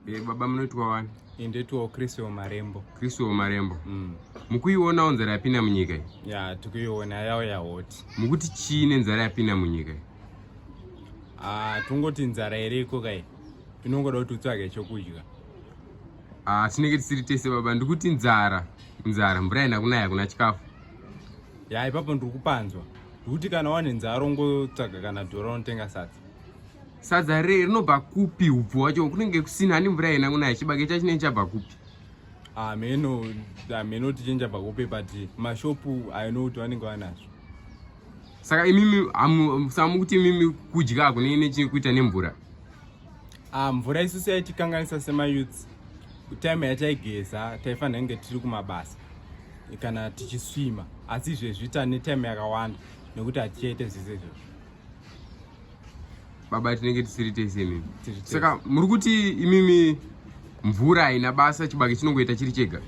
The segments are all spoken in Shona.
Eh, baba munoitwa wani? Eh, ndoitwawo Chris Omarembo. Chris Omarembo. Mm. Mukuiona nzara yapinda munyika iyi? Ya, tikuiona yawo yahoti. Mukuti chii nenzara yapinda munyika iyi? Ah, tungoti nzara iriko kai. Tinongoda kuti utsvage chokudya. Ah, tinenge tisiri tese baba, ndikuti nzara. Nzara, mvura haina kunaya, hakuna chikafu. Ya, ipapo ndiri kupanzwa. Ndikuti kana wane nzara ungotsvaga kana dhora unotenga sadza. sadza re rinobva kupi ubvu wacho kunenge kusina hani mvura yena kunaya chibage chacho chinenge chabva kupi hameno ah, hameno ah, tichinja bva kupi but mashopu aino kuti vanenge vanazvo saka imimi samu kuti imimi kudya kunenge nechii kuita nemvura ah, mvura isu seyatikanganisa semayouths time yataigeza taifanira kunge tiri kumabasa kana tichiswima asi izvezvi tane time yakawanda nekuti hatichaite zvese izvozvo baba tinenge tisiri tese imimi saka muri kuti imimi mvura haina basa chibage chinongoita chiri chega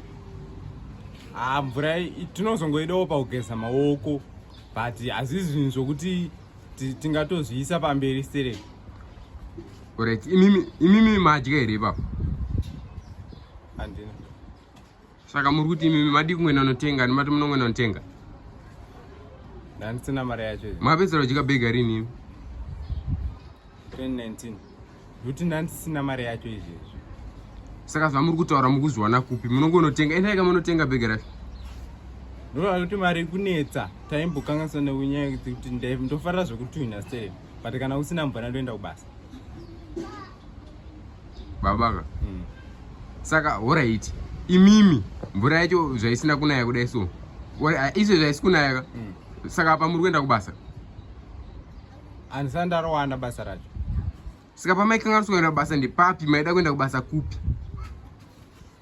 haa ah, mvura tinozongoidawo pakugeza maoko but hazvizi zvinhu zvokuti tingatozviisa pamberi sere orit imimi madya here ipapo handina Saka muri kuti imimi madii kungoenda unotenga ani mati munongoenda unotenga? Ndandisina mari yacho. Makapedzera kudya bega rini imi? 2019. Kuti ndandisina mari yacho izvezvi. Saka zvamuri kutaura mukuzviwana kupi? Munongonotenga endai kamunotenga bega racho. Ndova kuti mari kunetsa taimbokanganisa nekunyaya kuti ndofarira zvekutuhina sei but kana usina mvana ndoenda kubasa. babaka mm. saka horaiti imimi mvura yacho zvaisina kunaya kudai so izvo zvaisi kunayaka mm. saka apa muri kuenda kubasa andisani ndarowana basa racho saka pamaikanganisa kuenda kubasa ndepapi maida kuenda kubasa kupi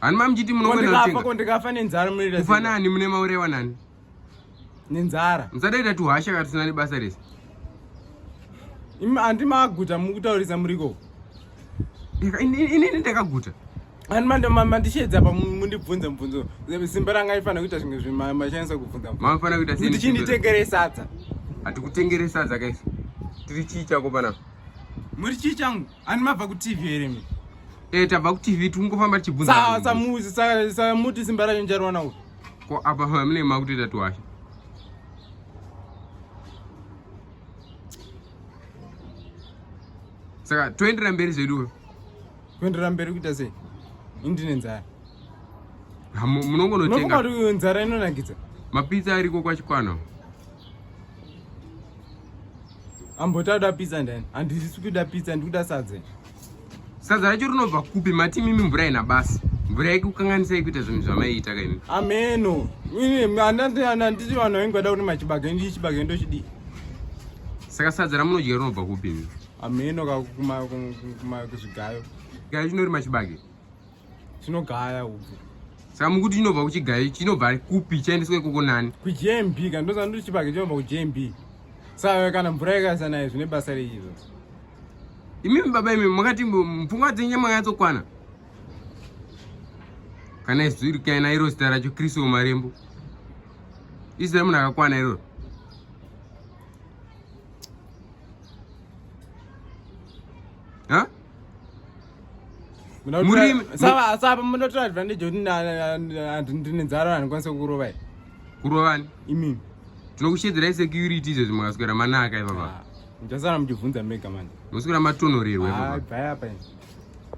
Hani mamuchiti munofanira kutenga. Ko ndikafa nenzara munoita. Kufanani mune maurewa nani? Nenzara. Musadaita tuhasha katusina nebasa rese. Imi andi maguta mukutaurisa muriko. Inini ndakaguta. Ani mando mandishedza pa mundibvunza mubvunzo. Simba ranga ifana kuita zvimwe zvima machanisa kubvunza. Mafana kuita sei? Ndichinditengere sadza. Hatikutengere sadza kaisi. Tiri chii chako pana? Muri chii changu? Ani mabva ku TV here mi? Eh tabva ku TV tingofamba tichibvunza. Sa sa muzi sa sa muti simba ranyu njarwana uko. Ko apa hamne makutoita twashe. Saka toenderera mberi zvedu. Kuenderera mberi kuita sei? Indine nzara. Munongonotenga. Munongonotenga nzara inonakidza. Mapizza ariko kwachikwana. ambotakuda pizza ndani handisi kuda pizza ndikuda sadze sadza racho rinobva kupi mati mimi mvura ina basa mvura yekukanganisa yekuita zvinhu zvamaiita kaimi ameno anditi vanhu vainge vada kuti machibage ndii chibage ndochidii saka sadza ramunodya rinobva kupi ameno kakuzvigayo gayo chinori machibage Chinogaya uku. Saka mukuti chinobva kuchigayi chinobva kupi chaendeswa ikoko nani? KuJMB kana ndoziva ndoti chibage chinobva kuJMB. Saka kana mvura yakaisa naye zvine basa rei izvo? Imimi baba imimi makati mupfungwa dzenyu nyama yatsokwana. Kana izwi rikaina iro zita racho Kristo Marembo. Izwi munhu akakwana iroro. Huh? murimi sava sava munotora advantage kuti ndine nzara handikwanise kurova here kurovani imimi tinokushedzerai security izvezvi makaswera manaka ipapa ah, muchasara muchibvunza mega manje muswera matonhorerwa ipapa ah,